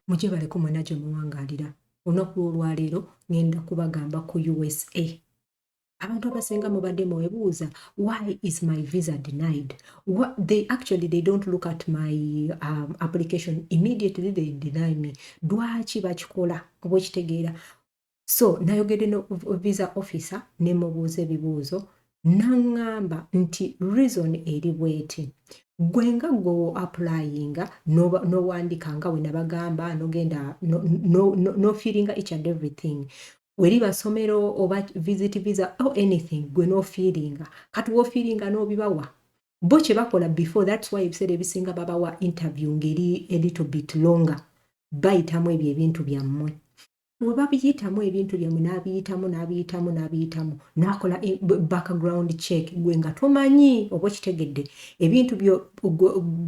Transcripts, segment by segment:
muje baleko mwena gye muwangalira olunaku lw'olwaleero ngenda kubagamba ku usa abantu abasinga mubadde mwebuuza why is my visa denied What they actually they don't look at my um, application immediately they deny me lwaki bakikola oba okitegeera so nayogedde no visa officer nemubuuza ebibuuzo naŋŋamba nti reason eri bweti gwe nga gwewo applyinga nowandika nga wenabagamba nogenda nofiiringa each and everything weri basomero oba visit visa or anything gwe nofiiringa kati wofiiringa nobibawa bo kyebakola before thats why ebiseera ebisinga babawa interview ngeri a little bit longer bayitamu ebyo ebintu byammwe we babiyitamu ebintu byammwe n'abiyitamu n'abiyitamu n'abiyitamu n'akola e, background check gwe nga tomanyi oba okitegedde ebintu byo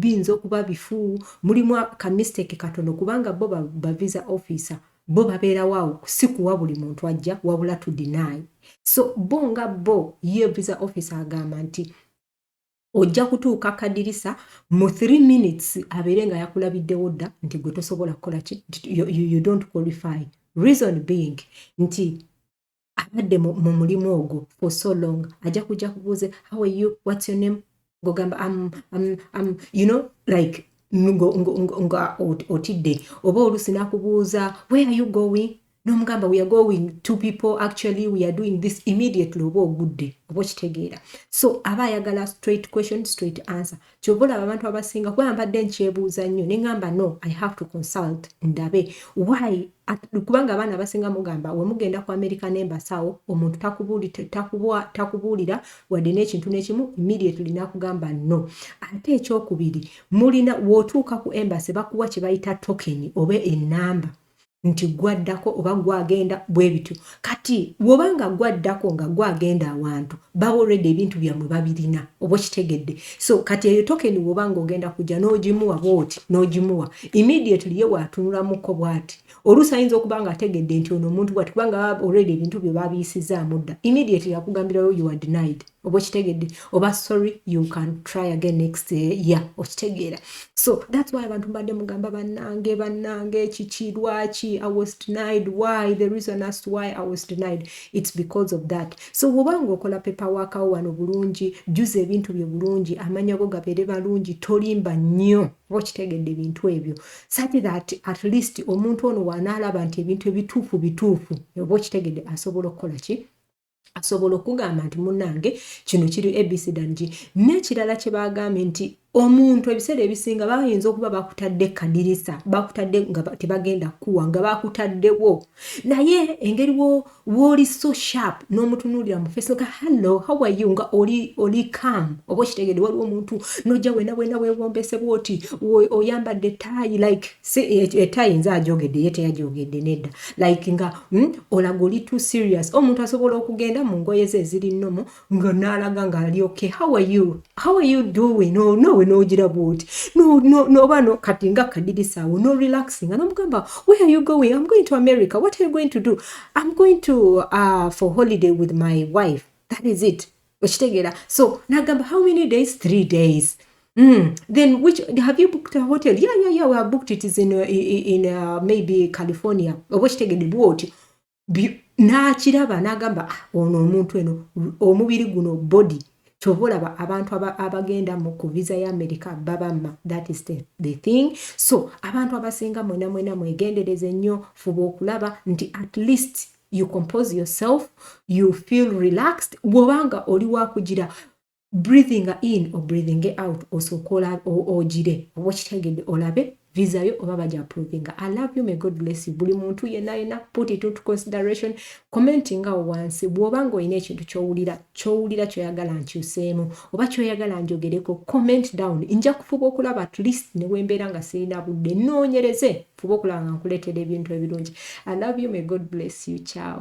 biyinza okuba bifu mulimu ka mistake katono kubanga bo bavisa officer bo babeerawo awo si kuwa buli muntu ajja wabula to deny so bo nga bo ye visa officer agamba nti ojja kutuuka kadirisa mu 3 minutes abeere nga yakulabiddewo dda nti gwe tosobola kukola ki you, you, you don't qualify reason being nti abadde mu mulimu ogwo for so long ajja kujja kubuuze how are you what's your name ngogamba am, am, am, you know like nga otidde oba oluusi nakubuuza where are you going nomugamba weare going to people actually weare doing this immediately oba ogudde oba okitegeera so aba ayagala straight question straight answer kyova olaba abantu abasinga kuba mbadde nkyebuuza nnyo neŋamba no i have to consult ndabe why kubanga abaana abasinga mugamba wemugenda ku america nembasawo omuntu takubuulira wadde n'ekintu n'ekimu immediately nakugamba no ate ekyokubiri mulina wotuuka ku embasi bakuwa kyebayita tokeni oba enamba nti gwaddako oba gwagenda bwe bityo kati woba nga gwaddako nga gwagenda awantu baba olwedde ebintu byammwe babirina oba okitegedde so kati eyo tokeni woba nga ogenda kujja n'ogimuwa bwoti n'ogimuwa immediately ye waatunulamuko bwati oluusi ayinza okuba nga ategedde nti ono omuntu bwati kubanga baba olwedde ebintu bye babiyisizaamu dda immediately akugambirayo you are denied oba okitegedde oba sorry you can try again next year okitegeera so thats why abantu mbadde mugamba bannange bannange kiki lwaki i was denied why the reason as to why i was denied its because of that so woba nga okola pepa wakawo wano bulungi juza ebintu byo bulungi amanya go gabeere balungi tolimba nnyo oba okitegedde ebintu ebyo sati that at least omuntu ono wanaalaba nti ebintu ebituufu bituufu oba okitegedde asobola okukola ki asobola okugamba nti munange kino kiri abcdng n'ekirala kye baagambye nti omuntu ebiseera ebisinga bayinza okuba bakutadde kadirisa bakutadde nga tebagenda kukuwa nga bakutaddewo naye engeri wooli so sharp n'omutunuulira mu face nga hallo how are you nga oli oli cam oba okitegede waliwo omuntu nojja wena wena wewombese bwoti oyambadde taayi like etaayi eh, eh, nze ajogedde ye teyajogedde nedda like nga Hmm? olaga oli too serious omuntu asobola okugenda mu ngoye ze eziri nomu nga naalaga nga ali okay how are you how are you doing oh, nowe nogira bwoti noba no kati nga kadirisaawo no relaxing nga nomugamba where are you going i'm going to america what are you going to do i'm going to uh, for holiday with my wife that is it okitegeera so nagamba how many days three days Mm. Then which have you booked a hotel? Yeah, yeah, yeah. We have booked it is in uh, in uh, maybe California. Oba kitegede bwotyo. N'akiraba n'agamba ah, ono omuntu eno omubiri guno body kyova olaba abantu abagenda mu ku visa ya amerika babamma that is the, the thing so abantu abasinga mwena mwena mwegendereze nnyo fuba okulaba nti at least you compose yourself you feel relaxed bwobanga oli wakugira breathing in or breathing out osooka ogire oba okitegedde olabe visa yo oba baja approvinga i love you may god bless you buli muntu yena yena put it into consideration commenting awo wansi bwoba nga olina ekintu kyowulira kyowulira kyoyagala nkyuseemu oba kyoyagala njogereko comment down nja kufuba okulaba at least newembeera nga sirina budde noonyereze Fuba okulaba nga nkuleetera ebintu ebirungi. I love you, may God bless you. Ciao.